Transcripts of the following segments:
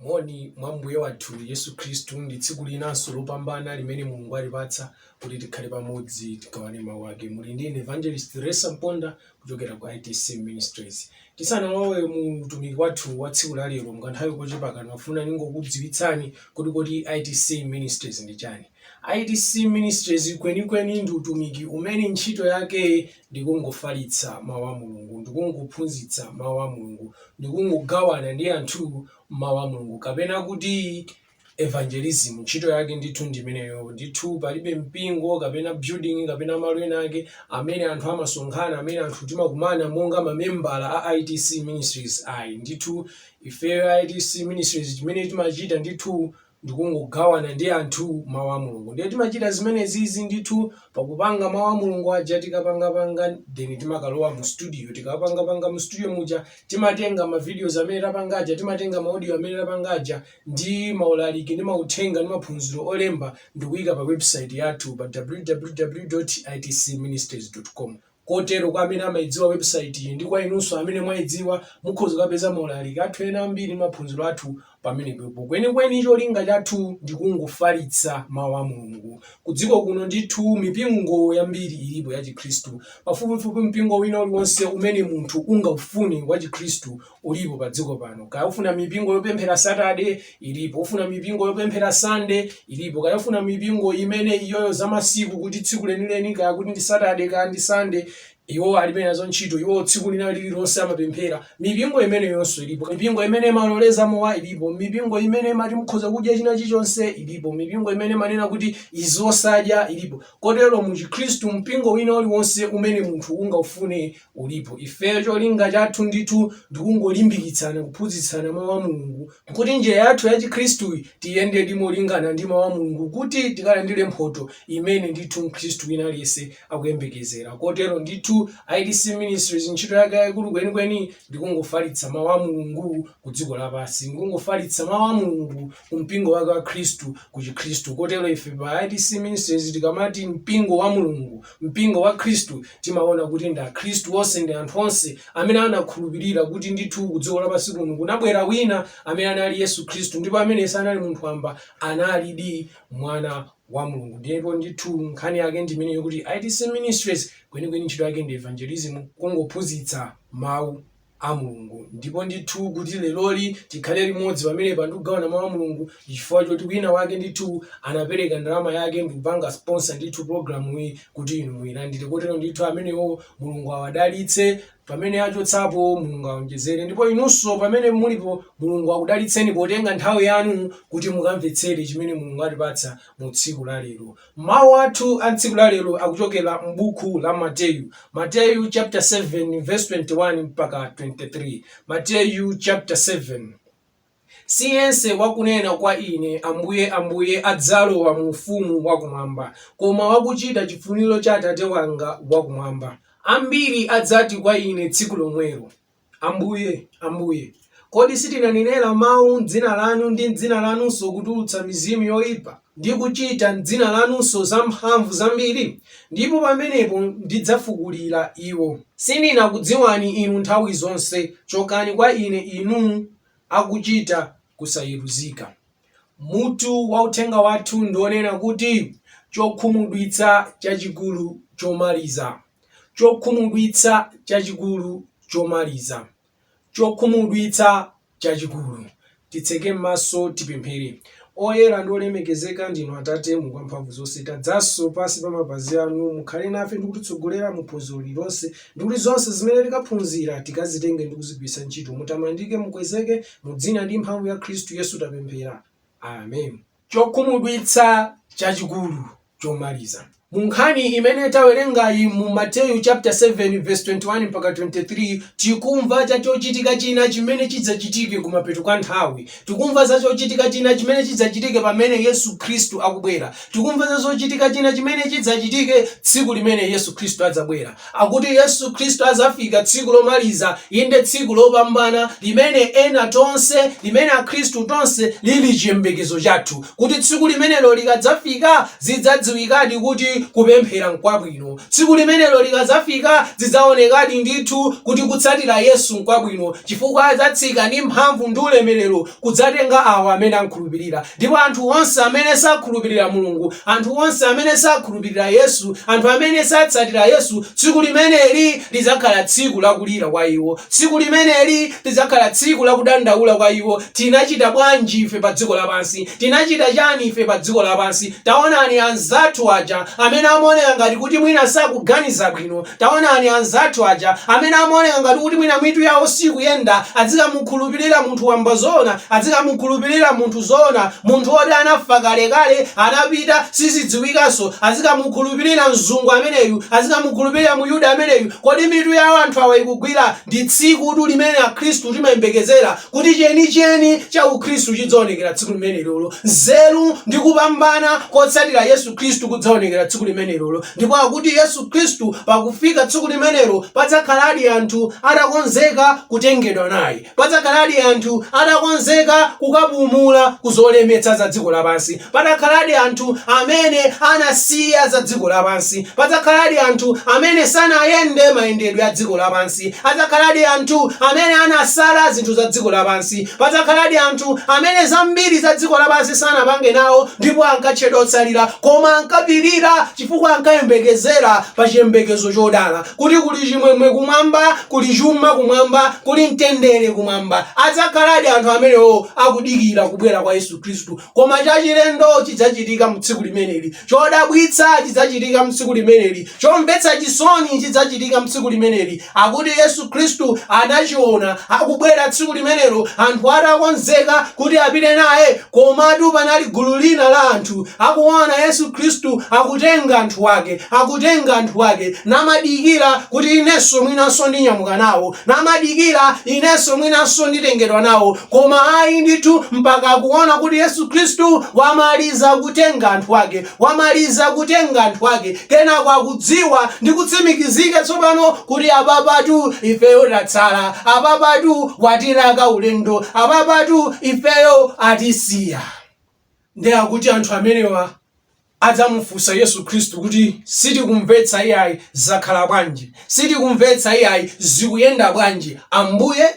Moni mwa Mbuye wathu Yesu Khristu. Ndi tsiku linanso lopambana limene Mulungu watipatsa kuti tikhale pamodzi tigawane Mau ake. Muli ndi ine Evangelist Theresa Mponda kuchokera ku ITC Ministries. Tisanalowe mu utumiki wathu wa tsiku la lero, mukanthawi kochepa kano ndafuna ndingokudziwitsani kuti kodi ITC Ministries ndi chani. ITC Ministries kwenikweni ndi utumiki umene ntchito yake ndikungofalitsa Mau a Mulungu, ndikungophunzitsa Mau a Mulungu, ndikungogawana ndi anthu Mau a Mulungu, kapena kuti evangelism, ntchito yake ndithu ndi imeneyo. Ndithu palibe mpingo kapena building kapena malo ena ake amene anthu amasonkhana, amene anthu timakumana monga mamembala a ITC Ministries ayi. Ndithu ifeyo a ITC Ministries chimene timachita ndithu ndikungogawana ndi anthu mau a Mulungu ndiye timachita zimenezizi ndithu pakupanga mau a Mulungu aja tikapangapanga then timakalowa mu studio tikapangapanga mu studio muja timatenga ma videos amene tapanga aja timatenga ma audio amene tapanga aja ndi maulaliki ndi mauthenga ndi maphunziro olemba ndikuyika pa website yathu pa www.itcministries.com Kotero kwa amene amayidziwa website yi ndi kwa inunso amene mwayidziwa mukhoza kukapeza ma ulaliki athu ena ambiri ndi maphunziro athu pamenepepo. Kwenikweni cholinga chathu ndi kungofalitsa Mau a Mulungu. Ku dziko kuno ndithu mipingo yambiri ilipo ya chikhristu. Pafupifupi mpingo wina uliwonse umene munthu ungaufune wa chikhristu ulipo pa dziko pano. Kaya ufuna mipingo yopemphera Saturday, ilipo. Ufuna mipingo yopemphera Sunday, ilipo. Kaya ufuna mipingo imene iyoyo za masiku kuti tsiku lenileni kaya kuti ndi Saturday kaya ndi Sunday, iwo alibe nazo ntchito iwo tsiku lina lililonse amapemphera mipingo imeneyonso ilipo mipingo imene imaloleza mowa ilipo mipingo imene imati mukhoza kudya china chilichonse ilipo mipingo imene imanena kuti izi osadya ilipo kotero mu chikhristu mpingo wina uliwonse umene munthu ungaufune ulipo. Ifeyo cholinga chathu ndithu ndikungolimbikitsana kuphunzitsana Mau a Mulungu kuti njira yathu ya Chikhristuyi tiyendedi molingana ndi Mau a Mulungu kuti tikalandire mphoto imene ndithu Mkhristu wina aliyense akuyembekezera. Kotero ndithu ITC Ministries ntchito yake yaikulu kwenikweni ndikungofalitsa Mau a Mulungu ku dziko lapansi. Ndikungofalitsa Mau a Mulungu ku mpingo wake wa Khristu ku Chikhristu. Kotero ife pa ITC Ministries tikamati mpingo wa Mulungu, Mpingo wa Khristu timaona kuti ndi akhristu onse ndi anthu onse amene anakhulupirira kuti ndithu ku dziko lapansi kuno kunabwera wina amene anali Yesu Khristu ndipo amene sanali munthu wamba analidi mwana wa Mulungu ndipo ndithu nkhani yake ndi imeneyo kuti ITC Ministries kwenikweni ntchito yake ndi evangelism kungophunzitsa mawu a Mulungu. Ndipo ndithu kuti leroli tikhale limodzi pamenepa ndi kugawana mau a Mulungu ndi chifukwa choti wina wake ndithu anapereka ndalama yake ndi kupanga sponsor ndithu pulogalamuyi kuti inu muilandire kotero ndithu amenewo Mulungu awadalitse pamene achotsapo Mulungu aonjezere ndipo inunso pamene mulipo Mulungu akudalitseni potenga nthawi yanu kuti mukamvetsere chimene Mulungu atipatsa mu tsiku la lero. Mawu athu a m'tsiku la lero akuchokera m'buku la Mateyu. Mateyu chapter 7 verse 21 mpaka 23 Mateyu chapter 7 Si yense wakunena kwa ine, Ambuye, Ambuye, adzalowa mu ufumu wa kumwamba, koma wakuchita chifuniro cha Atate wanga wa kumwamba. Ambiri adzati kwa ine tsiku lomwelo. Ambuye, Ambuye, kodi sitinanenera mau m'dzina lanu, ndi m'dzina lanunso kutulutsa mizimu yoipa, ndi kuchita m'dzina lanunso zamphamvu zambiri? Ndipo pamenepo ndidzafukulira iwo. Sindinakudziwani inu nthawi zonse, chokani kwa Ine, inu akuchita kusayeruzika. Mutu wa uthenga wathu ndi wonena kuti Chokhumudwitsa Chachikulu Chomaliza. Chokhumudwitsa Chachikulu Chomaliza. Chokhumudwitsa Chachikulu. Titseke maso tipemphere. Oyera ndi olemekezeka ndinu Atate Mulungu Wamphamvuzonse, tadzanso pansi pa mapazi anu, mukhale nafe ndi kutitsogolera mu phunziro lililonse, ndi kuti zonse zimene tikaphunzira tikazitenge ndi kuzigwiritsa ntchito. Mutamandike, mukwezeke, Mu dzina ndi mphamvu ya Khristu Yesu tapemphera. Amen. Chokhumudwitsa chachikulu chomaliza. Mu nkhani imene tawerengayi mu Mateyu chapter 7 verse 21 mpaka 23, tikumva za chochitika china chimene chidzachitike kumapeto kwa nthawi. Tikumva za chochitika china chimene chidzachitike pamene Yesu Khristu akubwera. Tikumva za chochitika china chimene chidzachitike tsiku limene Yesu Khristu adzabwera. akuti Yesu Khristu adzafika tsiku lomaliza, inde tsiku lopambana limene ena tonse, limene akhristu tonse lili chiyembekezo chathu, kuti tsiku limenelo likadzafika zidzadziwikadi kuti kupemphera n'kwabwino, tsiku limenelo likadzafika zidzaonekadi ndithu kuti kutsatira Yesu n'kwabwino, chifukwa adzatsika ndi mphamvu ndi ulemerero kudzatenga awa amene am'khulupirira. Ndipo anthu onse amene sakhulupirira Mulungu, anthu onse amene sakhulupirira Yesu, anthu amene satsatira Yesu, tsiku limeneli lidzakhala tsiku la kulira kwa iwo. Tsiku limeneli lidzakhala tsiku la kudandaula kwa iwo, Tinachita bwanji ife pa dziko lapansi? Tinachita chani ife pa dziko lapansi? Taonani anzathu aja amene amaoneka ngati kuti mwina sakuganiza bwino, Taonani, anzathu aja amene amaoneka ngati kuti mwina mitu yawo sikuyenda, adzikamukhulupirira munthu wamba zoona, adzikamukhulupirira munthu zoona, munthu oti anafa kalekale, anapita, sizidziwikanso, adzikamukhulupirira mzungu ameneyu, adzikamukhulupirira Myuda ameneyu, kodi mitu yawo anthu awa ikugwira? Ndi tsikutu limene Akhristu timayembekezera kuti chenicheni cha Ukhristu chidzaonekera tsiku limenelolo, nzeru ndi kupambana kotsatira Yesu Khristu kudzaonekera tsiku limenelolo, ndipo akuti Yesu. Khristu, pakufika tsiku limenelo padzakhaladi anthu atakonzeka kutengedwa naye. Padzakhaladi anthu atakonzeka kukapumula ku zolemetsa za dziko lapansi. Padzakhaladi anthu amene anasiya za dziko lapansi. Padzakhaladi anthu amene sanayende mayendedwe a dziko lapansi. Adzakhaladi anthu amene anasala zinthu za dziko lapansi. Padzakhaladi anthu amene zambiri za dziko lapansi sanapange nawo ndipo ankatchedwa otsalira koma ankapirira chifukwa ankayembekezera pa chiyembekezo chodala, kuti kuli chimwemwe kumwamba, kuli chuma kumwamba, kuli mtendere kumwamba. Adzakhaladi anthu amenewo akudikira kubwera kwa Yesu Khristu. Koma chachilendo chidzachitika mu tsiku limeneli. Chodabwitsa chidzachitika mu tsiku limeneli. Chomvetsa chisoni chidzachitika mu tsiku limeneli. akuti Yesu Khristu anachiona akubwera tsiku limenelo, anthu atakonzeka kuti apite naye. Komatu panali gulu lina la anthu akuona Yesu Khristu akutenga anthu ake, akutenga anthu ake, namadikira kuti inenso mwinanso ndinyamuka nawo, namadikira inenso mwinanso nditengedwa nawo. Koma ayi ndithu, mpaka akuona kuti Yesu Khristu wamaliza kutenga anthu ake, Wamaliza kutenga anthu ake, kenako akudziwa ndi kutsimikizika tsopano kuti apapatu ifeyo tatsala, apapatu watilaka ulendo, apapatu ifeyo atisiya. Ndiye akuti anthu amenewa adzamufunsa Yesu Khristu kuti, Sitikumvetsa iyayi, zakhala bwanji? Sitikumvetsa iyayi, zikuyenda bwanji Ambuye?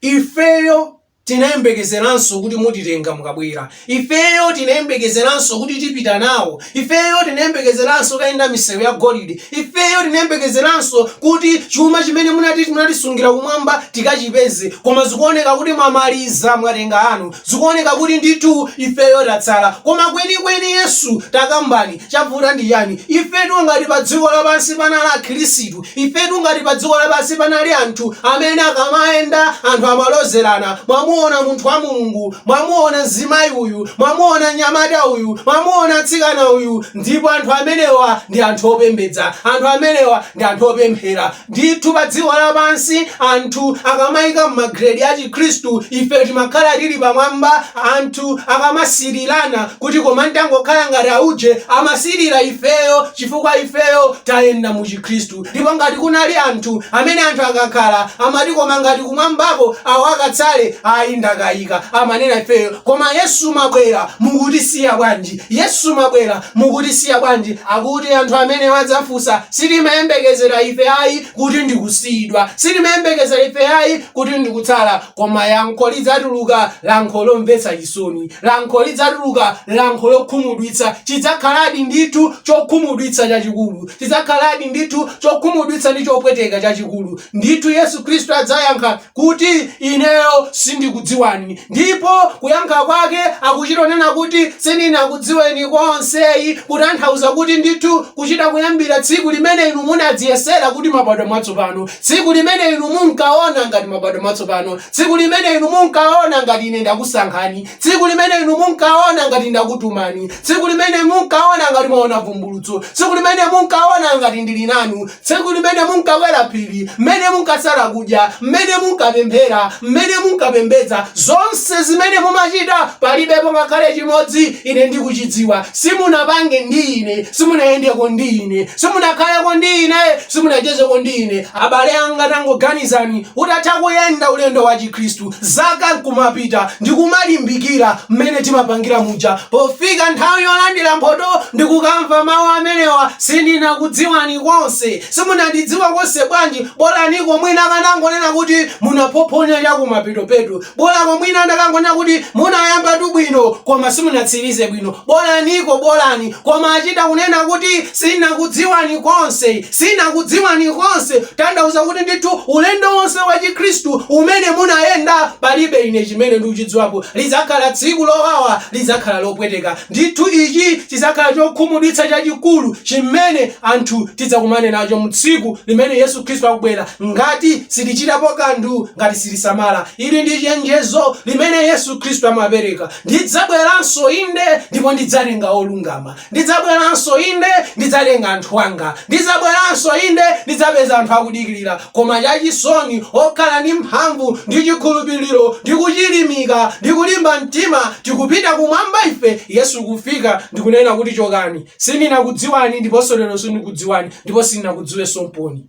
Ifeyo tinayembekezeranso kuti mutitenga mukabwera. Ifeyo tinayembekezeranso kuti tipita nawo. Ifeyo tinayembekezeranso kayenda misewu ya golide. Ifeyo tinayembekezeranso kuti chuma chimene munati munatisungira kumwamba tikachipeze. Koma zikuoneka kuti mwamaliza, mwatenga anu. Zikuoneka kuti ndithu ifeyo tatsala. Koma kwenikweni Yesu, takambani, chavuta ndi chani? Ifetu ngati padziko lapansi panali Akhirisitu, Ifetu ngati padziko lapansi panali anthu amene akamayenda anthu amalozerana, mwamuona munthu wa Mulungu, mwamuona mzimayi uyu, mwamuona mnyamata uyu, mwamuona mtsikana uyu, ndipo anthu amenewa ndi anthu opembedza, anthu amenewa ndi anthu opemphera. Ndithu padziko lapansi anthu akamaika m'magrade a Chikhristu ife timakhala tili pamwamba, anthu akamasirirana kuti koma ntangokhala ngati auje amasirira ifeyo chifukwa ifeyo tayenda mu Kristu. Ndipo ngati kunali anthu amene anthu akakhala, amati, koma ngati kumwambako awo akatsale, ayi ndakayika, amanena ifeyo, koma Yesu mabwera mukutisiya bwanji? Yesu mabwera mukutisiya bwanji? Akuti anthu amene adzafunsa, sitimayembekezera ife ayi kuti ndi kusiyidwa, sitimayembekezera ife ayi kuti ndi kutsala. Koma lankho lidzatuluka, lankho lomvetsa chisoni. Lankho lidzatuluka, lankho lokhumudwitsa. Chidzakhaladi ndithu chokhumudwitsa chachikulu. Chidzakhaladi ndithu chokhumudwitsa ndi chopweteka chachikulu. Ndithu Yesu Khristu adzayankha kuti, Ineyo sindikudziwani. Ndipo kuyankha kwake akuchitonena kuti sindinakudziweni konse, kutanthauza kuti ndithu kuchita kuyambira tsiku limene inu munadziyesera kuti mabadwa mwatsopano. Tsiku limene inu munkawona ngati mabadwa mwatsopano, tsiku limene inu munkawona ngati ine ndakusankhani, tsiku limene inu munkawona ngati ndakutumani, tsiku limene munkawona ngati mwawona vumbulutso, tsiku limene munkawona ngati ndiri nanu, tsiku limene munkakwera phiri, mmene munkasala kudya, mmene munkapemphera, mmene munkapembedza, zonse zimene mumachita, palibepo ngakhale chimodzi ine ndikuchidziwa. Simunapange ndi ine, simunayendeko ndi ine, simunakhaleko ndi ine. Simunachezeko ndi ine, abale anga, tangoganizani, utatha kuyenda ulendo wa chikhristu zaka nkumapita ndikumalimbikira mmene timapangira muja, pofika nthawi yolandira mphoto ndikukamva mawu amenewa, sindinakudziwani konse, simunandidziwa konse bwanji, bolaniko mwina akanangonena kuti munaphophonya chakumapetopeto. Bolako mwina andakangonena kuti munayambatu bwino koma simunatsirize bwino. Bolaniko bolani koma achita kunena kuti sinakudziwani konse. Sinakudziwani konse tanthauza kuti ndithu ulendo wonse wa chikhristu umene munayenda palibe ine chimene ndikuchidziwapo. Lidzakhala tsiku lowawa, lidzakhala lopweteka. Ndithu ichi chidzakhala chokhumudwitsa chachikulu chimene anthu tidzakumane nacho mu tsiku limene Yesu Khristu akubwera ngati sitichitapo kanthu, ngati sitisamala. Ili ndi chenjezo limene Yesu Khristu amapereka, Ndidzabweranso, inde, ndipo ndidzalenga olungama. Ndidzabweranso, inde, ndidzalenga anthu anga. Ndidzabweranso, inde, ndidzapeza anthu akudikirira, koma chachisoni, okhala ndi mphamvu, ndi chikhulupiriro, ndi kuchilimika, ndi kulimba mtima, tikupita kumwamba ife, Yesu kufika, ndi kunena kuti, Chokani, sindinakudziwani, ndiponso lero sindikudziwani, ndipo sindinakudziwenso mpoyi.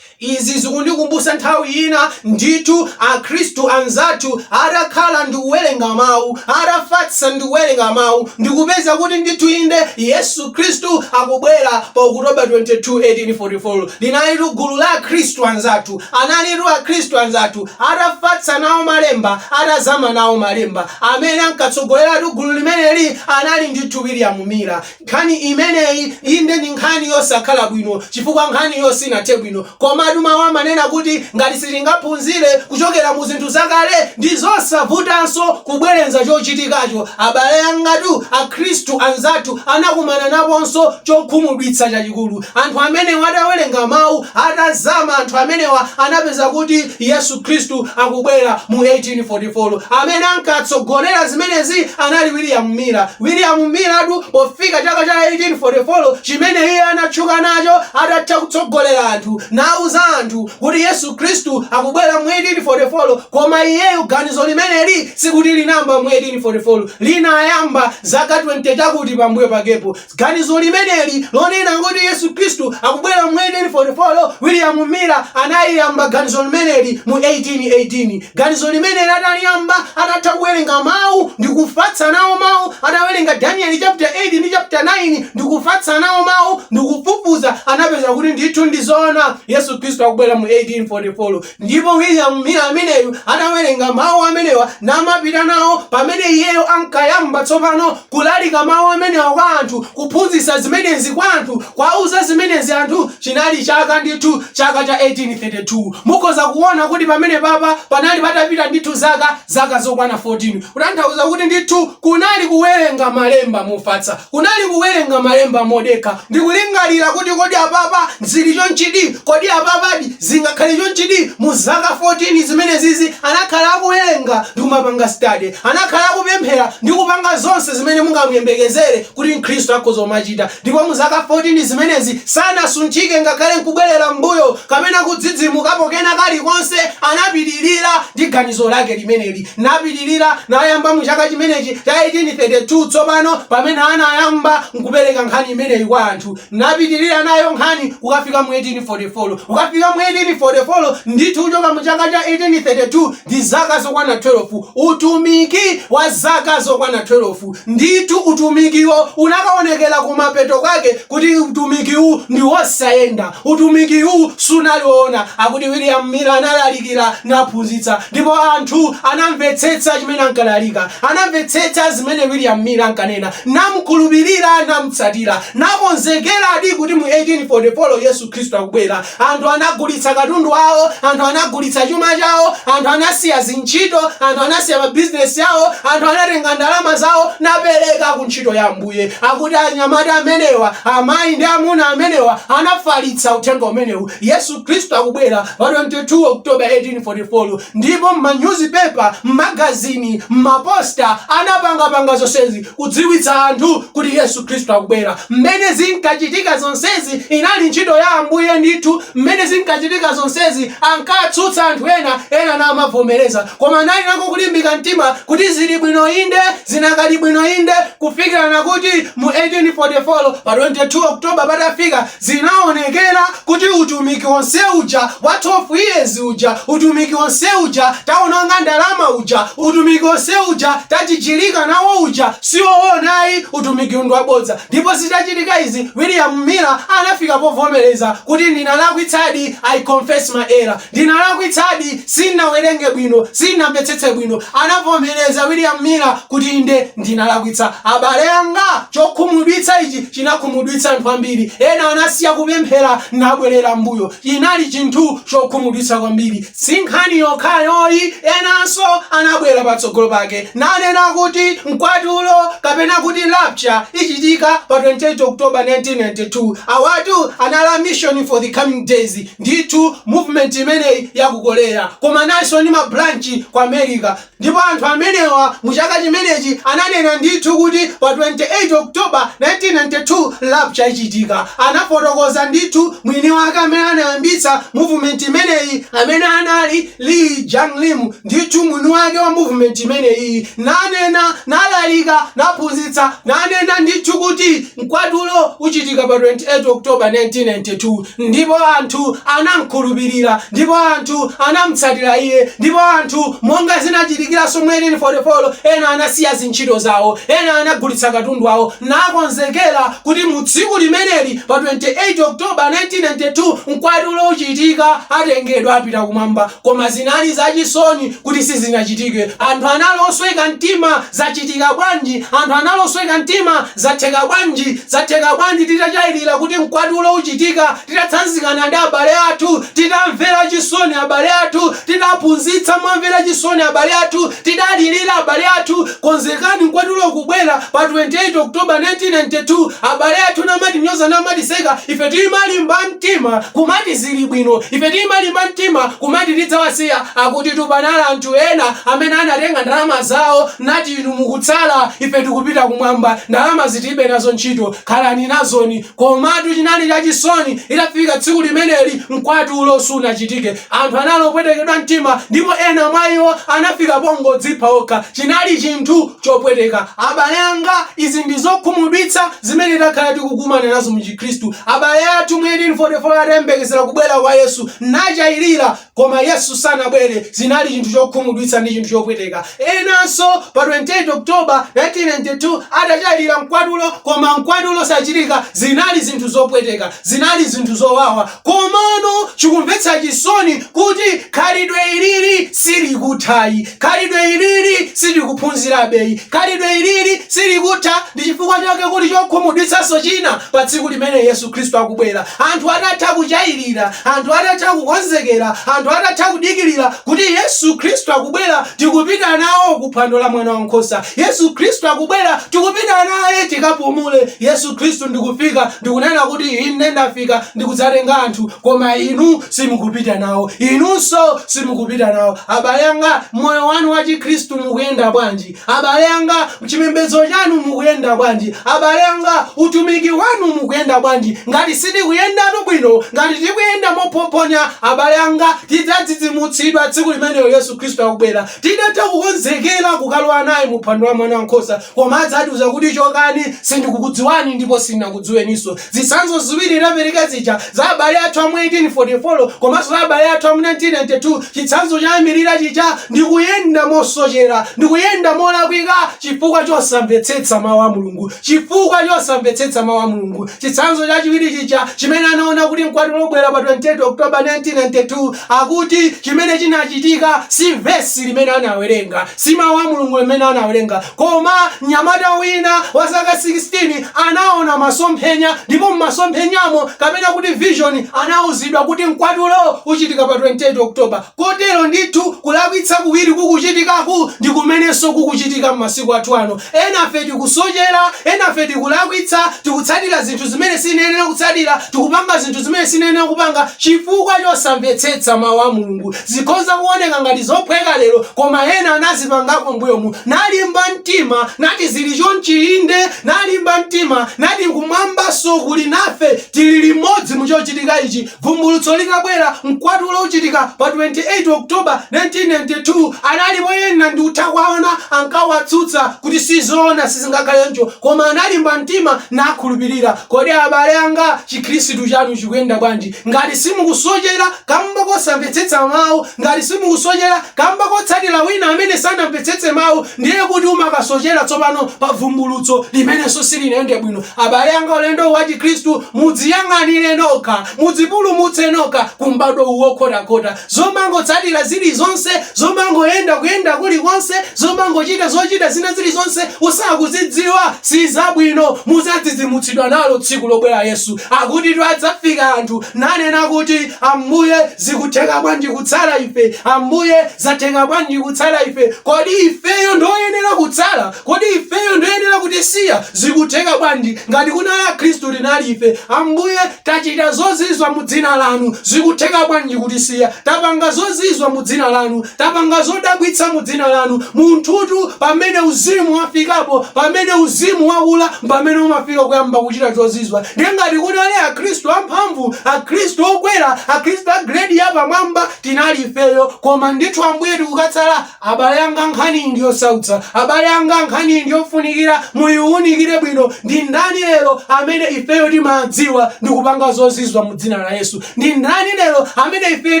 Izi zikundikumbusa nthawi ina ndithu akhristu anzathu atakhala ndikuwerenga mau, atafatsa ndikuwerenga mau ndikupeza kuti ndithu inde Yesu Khristu akubwera pa October 22, 1844 linalitu gulu la akhristu anzathu, analitu akhristu anzathu atafatsa nawo malemba, atazama nawo malemba, amene ankatsogoleratu gulu limeneli anali ndithu William Miller. Nkhani imeneyi, inde ndi nkhani yosakhala bwino chifukwa nkhaniyo sinathe bwino. Komatu mawu amanena kuti ngati sitingaphunzire kuchokera mu zinthu zakale, ndi zosavutanso kubwerenza chochitikacho. Abale angatu, Akhristu anzathu, anakumana naponso chokhumudwitsa chachikulu. Anthu amenewa atawerenga mawu, atazama, anthu amenewa anapeza kuti. Yesu Khristu akubwera mu 1844. Amene ankatsogolera zimenezi anali William Miller. William Millertu pofika chaka cha 1844 chimene iye anatchuka nacho atatha kutsogolera anthu nauza anthu kuti Yesu Khristu akubwera mu 1844, koma iyeyu ganizo limeneli sikuti linayamba mu 1844, linayamba zaka 20 chakuti pambuyo pakepo. Ganizo limeneli lonena kuti Yesu Khristu akubwera mu 1844, William Miller analiyamba ganizo limeneli mu 1818. Ganizo limeneli ataliyamba, atatha kuwerenga Mau ndi kufatsa nawo Mau, atawerenga Danieli chaputala 8 ndi chaputala 9 ndi kufatsa nawo Mau, ndi kufufuza, anapeza kuti ndithu ndi zoona Yesu Khristu akubwera mu 1844. Ndipo William Miller ameneyu atawerenga Mawu amenewa namapita nawo, pamene iyeyo ankayamba tsopano kulalika Mawu amenewa kwa anthu, kuphunzitsa zimenezi kwa anthu, kuwauza zimenezi anthu, chinali chaka ndithu, chaka cha 1832. Mukhoza kuwona kuti pamenepapa panali patapita ndithu zaka, zaka zokwana 14, kutanthauza kuti ndithu Kunali kuwerenga malemba mofatsa. Kunali kuwerenga malemba modekha ndi kulingalira kuti, Kodi apapa zili chonchidi? Kodi apapadi zingakhale chonchidi? Mu zaka 14 zimenezizi anakhala akuwerenga ndi kumapanga study. Anakhala akupemphera ndi kupanga zonse zimene mungamuyembekezere kuti mkhristu akhoza kumachita. Ndipo mu zaka 14 zimenezi sanasunthike ngakhale nkubwerera m'mbuyo kapena kudzidzimukapo kena kalikonse. Anapitirira ndi ganizo lake limeneli. napitirira, nayamba mu chaka chimenechi cha 1832, tsopano, pamene anayamba nkupereka nkhani imeneyi kwa anthu, napitirira nayo nkhani kukafika mu 1844, kukafika mu 1844, ndithu kuchoka mu chaka cha 1832, ndi zaka zokwana thwelofu, utumiki wa zaka zokwana thwelofu. Ndithu, utumikiwo unakawonekera kumapeto kwake, kuti utumikiwu ndi wosayenda. Utumikiwu sunali woona. Akuti William Miller analalikira naphunzitsa, ndipo anthu anamvetsetsa chimene ankalalika. Anamvetsetsa zimene William Miller ankanena, namukhulupirira, namutsatira, nakonzekeradi kuti mu 1844 Yesu Khristu akubwera. Anthu anagulitsa katundu awo, anthu anagulitsa chuma chawo, anthu anasiya zintchito, anthu anasiya mabizinesi awo, anthu anatenga ndalama zawo napereka ku ntchito ya Ambuye. Ambuye, akuti anyamata amenewa, amayi ndi amuna amenewa anafalitsa uthenga umenewu, Yesu Khristu akubwera, pa 22 October 1844, ndipo m'manyuzipepa, m'magazini, m'maposta, anapangapanga zonsezi, kudziwitsa anthu kuti Yesu Khristu akubwera. Mmene zinkachitika zonsezi, inali ntchito ya Ambuye ndithu, mmene zinkachitika zonsezi, ankatsutsa anthu ena, ena namavomereza, koma anali nako kulimbika mtima kuti zili bwino, inde, zinakali bwino, inde, Kufikirana kuti mu 1844 pa 22 October patafika, zinaonekera kuti utumiki wonse uja wa 12 years uja, utumiki wonse uja taononga ndalama uja, utumiki wonse uja tajijirika nawo uja si woona ayi, utumikiwu ndi wabodza. Ndipo zitachitika izi, William Miller anafika povomereza kuti ndinalakwitsadi, I confess my error. Ndinalakwitsadi, sindinawerenge bwino, sindinamvetsetse bwino. Anavomereza William Miller kuti, Inde, ndinalakwitsa. Abale anga, chokhumudwitsa ichi chinakhumudwitsa anthu ambiri. Ena anasiya kupemphera nabwerera m'mbuyo. Chinali chinthu chokhumudwitsa kwambiri. Si nkhani yokhayoyi, enanso anabwera patsogolo pake nanena kuti mkwatulo, kapena kuti rapture, ichitika pa 28 October 1992. Awatu anali Mission for the Coming Days. Ndithu movement imeneyi ya ku Korea koma inalinso ndi ma branch ku America ndipo anthu amenewa mu chaka chimenechi ananena ndithu kuti pa 28 October 1992 rapture ichitika. Anafotokoza ndithu mwini wake amene anayambitsa movement imeneyi, amene anali Lee Jang Lim ndithu mwini wake wa movement imeneyi nanena nalalika naphunzitsa nanena ndithu kuti mkwatulo uchitika pa 28 October 1992. Ndipo anthu anamkhulupirira, ndipo anthu anamutsatira iye. Ndipo anthu, monga zinachitikiranso mu 1844, ena anasiya zintchito zawo, ena anagulitsa katundu wawo, nakonzekera kuti mu tsiku limeneli, pa 28 October 1992, Mkwatulo uchitika, atengedwa apita kumwamba. Koma zinali zachisoni kuti sizinachitike. Anthu anali osweka mtima. Zachitika bwanji? Anthu anali osweka mtima. Zatheka bwanji? Zatheka bwanji titachailira kuti mkwatulo uchitika, titatsanzikana ndi abale athu, titamvera chisoni abale athu, titaphunzitsa momvera chisoni abale athu, tidalilira abale athu, konzekani mkwatulo ukubwera pa 28 October 1992, abale athu namatinyoza namatiseka, ife timalimba mtima kumati zili bwino, ife timalimba mtima kumati tidzawasiya, akutitu panali anthu ena amene anatenga ndalama zawo, nati, Inu mukutsala, ife tikupita kumwamba, ndalamazi tiribe nazo ntchito, khalani nazoni. Komatu chinali chachisoni, litafika tsiku limeneli, mkwatulo sunachitike. Anthu anali opwetekedwa mtima, ndipo ena mwa iwo anafika pongodzipha okha. Chinali chinthu chopweteka. Abale anga, izi ndi zokhumudwitsa zimene takhala tikukumana nazo mu Chikhristu. Abale athu mu 1844 atayembekezera kubwera kwa Yesu, nachayirira Koma Yesu sanabwere, zinali chinthu chokhumudwitsa ndi chinthu chopweteka. Enanso pa 28 October 1992 atachayirira mkwatulo koma mkwatulo sachitika, zinali zinthu zopweteka, zinali zinthu zowawa. Komano chikumvetsa chisoni kuti khalidwe ilili silikuthayi, khalidwe ilili silikuphunzirabeyi, khalidwe ilili silikutha. Ndi chifukwa chake kuli chokhumudwitsanso china pa tsiku limene Yesu. Khristu akubwera, anthu atatha kuchayirira, anthu atatha kukonzekera, anthu atatha kudikirira kuti Yesu Khristu akubwera, tikupita nawo ku phwando la Mwana wa Nkhosa. Yesu Khristu akubwera, tikupita naye tikapumule. Yesu Khristu ndi kufika ndi kunena kuti, Ine ndafika ndi kudzatenga anthu, koma inu simukupita nawo. Inunso simukupita nawo. Abale anga, moyo wanu wa Chikhristu mukuyenda bwanji? Abale anga, chipembedzo chanu mukuyenda bwanji? Abale anga, utumiki wanu mukuyenda bwanji? Ngati sitikuyendatu bwino, ngati tikuyenda mophophonya, abale anga, tidzadzidzimutsidwa tsiku limenelo Yesu Khristu akubwera. Titatha kukonzekera kukalowa naye mu phwando la Mwanawankhosa, koma adzatiuza kuti, Chokani, sindikukudziwani ndipo sindinakudziweninso. Zitsanzo ziwiri ndapereka zija za abale athu a mu 1844 komanso za abale athu a mu 1992, chitsanzo choyambirira chija ndi kuyenda mosochera ndi kuyenda molakwika chifukwa chosamvetsetsa Mau a Mulungu, chifukwa chosamvetsetsa Mau a Mulungu, chitsanzo chachiwiri chija chimene anaona kuti mkwatulo ubwera pa 28 October 1992, akuti chimene chinachitika si vesi limene anawerenga, si Mau a Mulungu amene anawerenga, Koma mnyamata wina wa zaka 16 anaona masomphenya, ndipo m'masomphenyamo, kapena kuti vision, anauzidwa kuti mkwatulo uchitika pa 28 October. Kotero ndithu, kulakwitsa kuwiri kukuchitikaku ndi kumenenso kukuchitika m'masiku athu ano. Enafe tikusochera, enafe tikulakwitsa, tikutsatira zinthu zimene sitiyenera kutsatira, tikupanga zinthu zimene sitiyenera kupanga chifukwa chosamvetsetsa Mawu a Mulungu. Zikhoza kuoneka ngati zophweka lero koma ena anazipangako mbuyomu nalimba mtima nati zili chonchi inde nalimba mtima nati kumwambanso kuli nafe tili limodzi muchochitika ichi vumbulutso litabwera mkwatulo uchitika pa 28 October 1992 analipo ena ndikutha kuwaona ankawatsutsa kuti sizoona sizingakhale ncho koma analimba mtima nakhulupirira kodi abale anga chikhristu chanu chikuyenda bwanji Ngati simukusochera kamba kosamvetsetsa mawu, ngati simukusochera kamba kotsatira wina amene sanamvetsetse mawu, ndiye kuti ukasochera tsopano pa bvumbulutso limenenso silinayende bwino. Abale anga, ulendo wa Chikhristu mudziyang'anire nokha, mudzipulumutse nokha ku m'badwo uwu wokhotakhota. zomangotsatira zilizonse, zomangoyenda kuyenda kulikonse, zomangochita zochita zina zilizonse usakuzidziwa, sizabwino, muzadzidzimutsidwa nalo tsiku lobwera Yesu. Akutitu adzafika anthu nanena kuti, Ambuye, zikutheka bwanji kutsala ife? Ambuye, zatheka bwanji kutsala ife? Kodi ifeyo ndioyenera kutsala? Kodi ifeyo ndioyenera kutisiya? Zikutheka bwanji? Ngati kunali akhristu tinali ife, Ambuye. Tachita zozizwa mu Dzina Lanu, zikutheka bwanji kutisiya? Tapanga zozizwa mu Dzina Lanu, tapanga zodabwitsa mu Dzina Lanu. Munthutu, pamene Uzimu wafikapo, pamene Uzimu wakula, mpamene umafika kuyamba kuchita zozizwa. Ndiye ngati kunali Akhristu amphamvu, Akhristu okwera, Akhristu a giredi yapamwamba, tinali ifeyo, koma ndithu Ambuye tikukatsala Abale anga, nkhaniyi ndi yosautsa. Abale anga, nkhaniyi ndi yofunikira muyiwunikire bwino. Ndi ndani lero amene ifeyo timadziwa ndi kupanga zozizwa mu dzina la Yesu? Ndi ndani lero amene ifeyo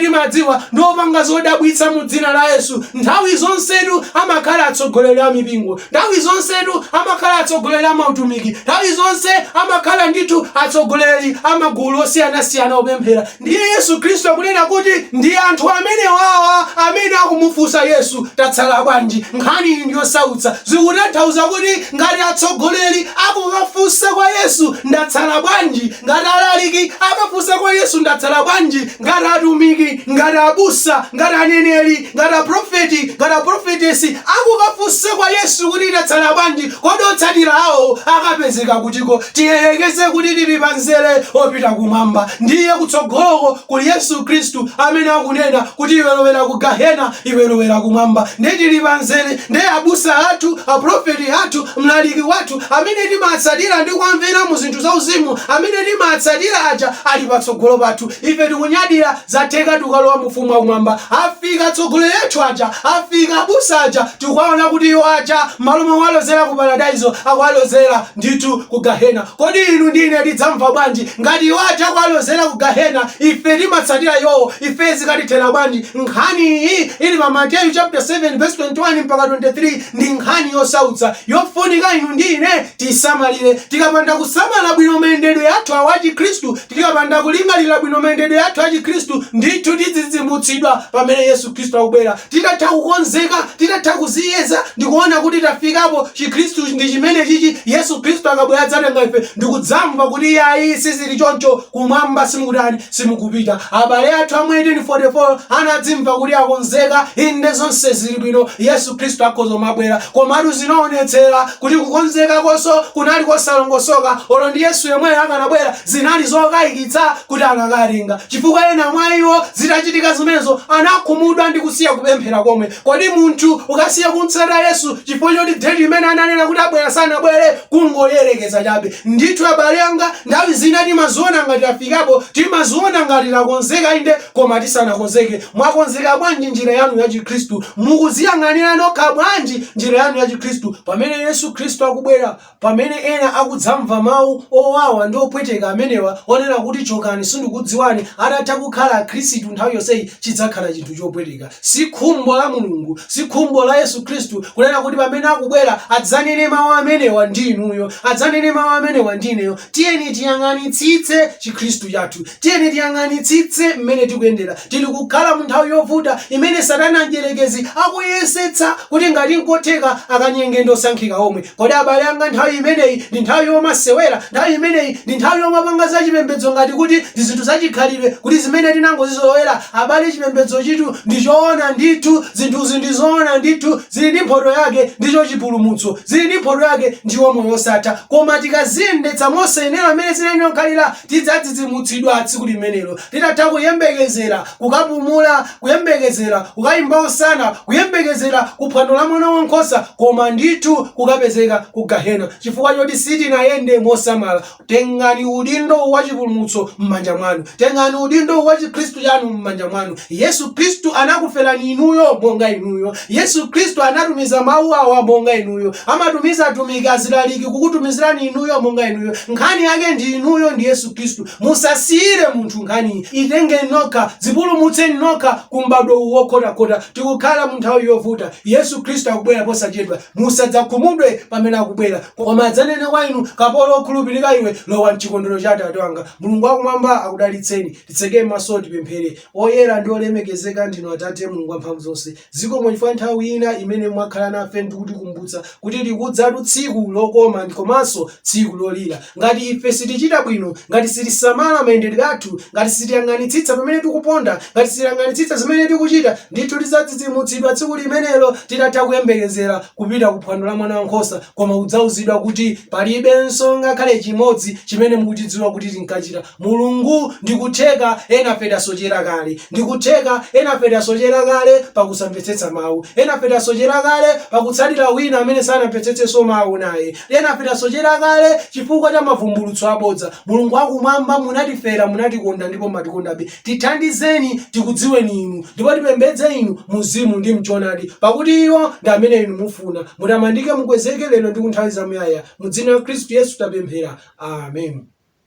timadziwa ndi opanga zodabwitsa mu dzina la Yesu? Nthawi zonsetu amakhala atsogoleri a mipingo. Nthawi zonsetu amakhala atsogoleri a mautumiki. Nthawi zonse amakhala ndithu atsogoleri a magulu osiyanasiyana opemphera. Ndiye Yesu Khristu akunena kuti ndi anthu amenewawa amene akumufunsa Yesu, tatsala bwanji? Nkhaniyi ndi yosautsa. Zikutanthauza kuti ngati atsogoleri akukafunsa kwa Yesu, ndatsala bwanji? Ngati alaliki akafunsa kwa Yesu, ndatsala bwanji? Ngati atumiki, ngati abusa, ngati aneneri, Ngati a prophet, ngati a prophetess akukafunsa kwa Yesu kuti ndatsala bwanji, kodi otsatira awo akapezeka kutiko? Tiyerekeze kuti tili pa mzere opita kumwamba, ndiye kutsogoloko kuli Yesu Khristu amene akunena kuti iwe lowera ku Gahena, iwe lowera kumwamba. Nde tili pa mzere, nde abusa athu, a prophet athu, mlaliki wathu amene timatsatira ndi kuwamvera mu zinthu za uzimu, amene timatsatira aja ali patsogolo pathu. Ife tikunyadira Zatheka tikukalowa mu ufumu wa kumwamba. Afika atsogoleri athu aja, afika abusa aja tikuwaona kuti iwo aja mmalo mowalozera ku paradaiso akuwalozera ndithu ku gahena. Kodi inu ndi ine tidzamva bwanji? Ngati iwo aja akuwalozera ku gahena ife timatsatira iwowo, ife zikatithera bwanji? Nkhani iyi ili pa Mateyu chaputala 7 vesi 21 mpaka 23 ndi nkhani yosautsa yofunika inu ndi ine tiisamalire. Tikapanda kusamala bwino mayendedwe athu awa a chikhristu Tikapanda kulingalira bwino mayendedwe athu achikristu, ndithu tidzadzidzimutsidwa pamene Yesu Kristu akubwera. Titatha kukonzeka, titatha kudziyeza, ndi kuona kuti tafikapo, Chikristu ndi chimenechichi, Yesu Kristu akabwera adzatenga ife, ndi kudzamva kuti, Iai, sizili choncho, kumwamba simukutani, simukupita. Abale athu a mu 1844 anadzimva kuti akonzeka, Inde, zonse zili bwino, Yesu. Khristu akhoza kumabwera, komatu zinaonetsera kuti kukonzekakonso kunali kosalongosoka, olo ndi Yesu yemweyo akanabwera, zinali zokaikitsa kuti akanawatenga, chifukwa ena mwa iwo zitachitika zimenezo anakhumudwa ndi kusiya kupemphera komwe. Kodi munthu ukasiya kumtsata Yesu chifukwa choti deti limene ananena kuti abwera sanabwere? Kungoyerekeza chabe. Ndithu abale anga, nthawi zina timadziona ngati tafikapo, timadziona ngati takonzeka, inde, Koma tisanakonzeke, mwakonzeka bwanji njira yanu ya Chikhristu? Mukudziyang'anira nokha bwanji njira yanu ya Chikhristu? Pamene Yesu Khristu akubwera, pamene ena akudzamva mau owawa ndi opweteka amenewa onena kuti chokani sindikudziwani atatha kukhala akhristu nthawi yonseyi chidzakhala chinthu chopweteka. Si khumbo la Mulungu, si khumbo la Yesu Khristu kunena kuti pamene akubwera adzanene mau amenewa ndi inuyo, adzanene mau amenewa ndi ineyo. Tiyeni tiyang'anitsitse Chikhristu chathu. Tiyeni tiyang'anitsitse mmene tikuyendera. Tili kukhala mu nthawi yovuta imene Satana Mdyerekezi akuyesetsa kuti ngati n'kotheka akanyenge ndi osankhika omwe. Kodi abale anga nthawi imeneyi ndi nthawi yomasewera? Nthawi imeneyi ndi nthawi yomapanga zachipembedzo ngati kuti ndi zinthu zachikhalidwe, kuti zimene tinangozizolowera? Abale, chipembedzochitu ndi choona ndithu, zinthuzi ndi zoona ndithu, zili ndi mphoto yake, ndicho chipulumutso. Zili ndi mphoto yake, ndiwo moyo wosatha. Koma tikaziyendetsa mosayenera mmene zinayenera kukhalira, tidzadzidzimutsidwa tsiku limenelo, titatha kuyembekezera, kukapumula, kuyembekezera, kukayimba hosana, kuyembekezera ku phwando la Mwanawankhosa, koma ndithu kukapezeka ku gehena chifukwa choti sitinayende mosamala. Tengani udindo wa chipulumutso m'manja mwanu. Tengani udindo wa chikhristu chanu m'manja mwanu. Yesu Khristu anakuferani inuyo monga inuyo. Yesu Khristu anatumiza Mawu awa monga inuyo, amatumiza atumiki, azilaliki, kukutumizirani inuyo monga inuyo. Nkhani yake ndi inuyo ndi Yesu Khristu. Musasiyire munthu nkhaniyi. Itengeni nokha. Dzipulumutseni nokha ku m'badwo uwu wokhotakhota. Tikukhala mu nthawi yovuta. Yesu Khristu akubwera posachedwa. Musadzakhumudwe pamene akubwera, koma adzanene kwa inu, Kapolo wokhulupirika iwe, lowa m'chikondwero cha Atate wanga. Mulungu wa Kumwamba akudalitseni. Titseke maso tipemphere. Oyera ndi olemekezeka ndinu Atate Mulungu Wamphamvuzonse. Zikomo chifukwa nthawi ina imene mwakhala nafe ndi kutikumbutsa kuti likudzatu tsiku lokoma komanso tsiku lolira. Ngati ife sitichita bwino, ngati sitisamala mayendedwe athu, ngati sitiyang'anitsitsa pamene tikuponda, ngati sitiyang'anitsitsa zimene tikuchita, ndithu tidzadzidzimutsidwa tsiku limenelo titatha kuyembekezera kupita ku phwando la Mwana Wankhosa koma kudzauzidwa kuti palibenso ngakhale chimodzi chimene mukuchidziwa kuti tinkachita. Mulungu, ndi kutheka enafe tasochera kale. Ndi kutheka enafe tasochera kale pa kusamvetsetsa Mawu. Enafe tasochera kale pa kutsatira wina amene sanamvetsetsenso Mawu naye. Enafe tasochera kale chifukwa cha mavumbulutso abodza. Mulungu wa Kumwamba, munatifera, munatikonda, ndipo mumatikondabe. Tithandizeni tikudziweni Inu, ndipo tipembedze Inu Mumzimu ndi mchoonadi, pakuti iwo ndi amene Inu mufuna. Mutamandike, mukwezeke, lero ndi kunthawi zamuyaya. Mu Dzina la Khristu Yesu tapemphera. Amen.